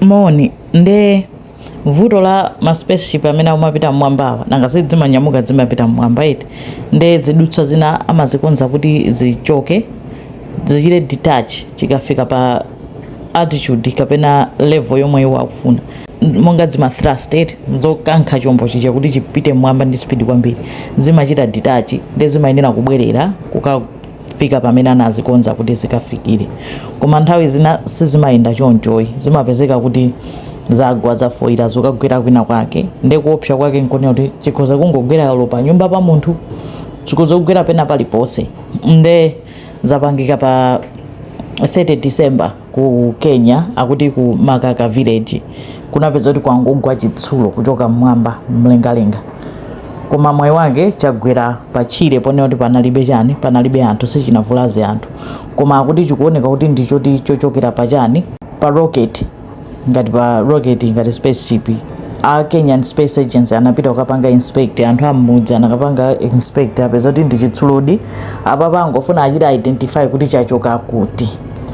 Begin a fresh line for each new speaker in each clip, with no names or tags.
Moni, nde vuto la ma spaceship amene akumapita mmwambawa nanga si zimanyamuka zimapita mmwamba eti nde zidutswa zina amazikonza kuti zichoke zichite detach chikafika pa altitude kapena level yomwe iwo akufuna monga zima thrust eti zokankha chombo chija kuti chipite mmwamba ndi speed kwambiri zimachita detach nde zimayenera kubwerera kuka fika pamene anazikonza kuti zikafikire. Koma nthawi zina sizimayenda chonchoyi, zimapezeka kuti zagwa zafoira zokagwera kwina kwake, nde kuopsa kwake nkonena kuti chikhoza kungogwera olo pa nyumba pa munthu, chikhoza kugwera pena paliponse, nde zapangika pa 30 December. Ku Kenya akuti ku Makaka village kunapezeka kuti kwangogwa chitsulo kuchoka mmwamba mlengalenga koma mwayi wake chagwera pa tchire ponena kuti panalibe chani panalibe anthu sichinavulaze anthu koma akuti chikuoneka kuti ndi choti chochokera pa chani pa rocket ngati pa rocket ngati spaceship a Kenyan Space Agency anapita kukapanga inspect anthu amudzi anakapanga inspect apeza kuti ndi chitsulodi apapa angofuna achite identify kuti chachoka kuti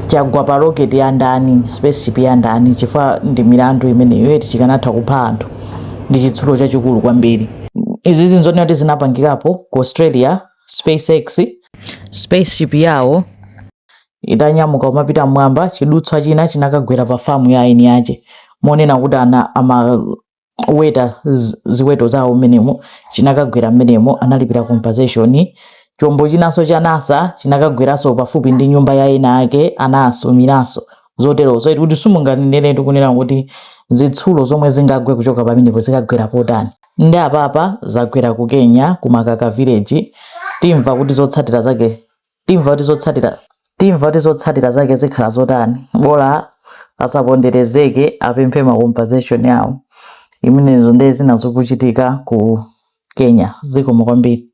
chagwa pa rocket ya ndani spaceship ya ndani chifukwa ndi milandu imeneyo eti chikanatha kupha anthu ndi chitsulo chachikulu kwambiri izi nzonena kuti zinapangikapo ku australia spacex spaceship yawo itanyamuka kumapita mmwamba chidutswa china chinakagwera pa famu ya eni ake monena kuti ana ama oweta zi- ziweto zawo mmenemo chinakagwera mmenemo analipira compensation chombo chinanso cha nasa chinakagweranso pafupi ndi nyumba ya ena ake anasumiranso zoterozo eti kuti simunganenere tikunena kuti zitsulo zomwe zingagwe kuchoka pamenepo zikagwera potani ndi apapa zagwera ku kenya ku makaka village timva kuti zotsatira zake Timva kuti zotsatira timva kuti zotsatira zake zikhala zotani bola asaponderezeke apemphe ma compensation awo zimenezo ndiye zina zokuchitika ku Kenya zikomo kwambiri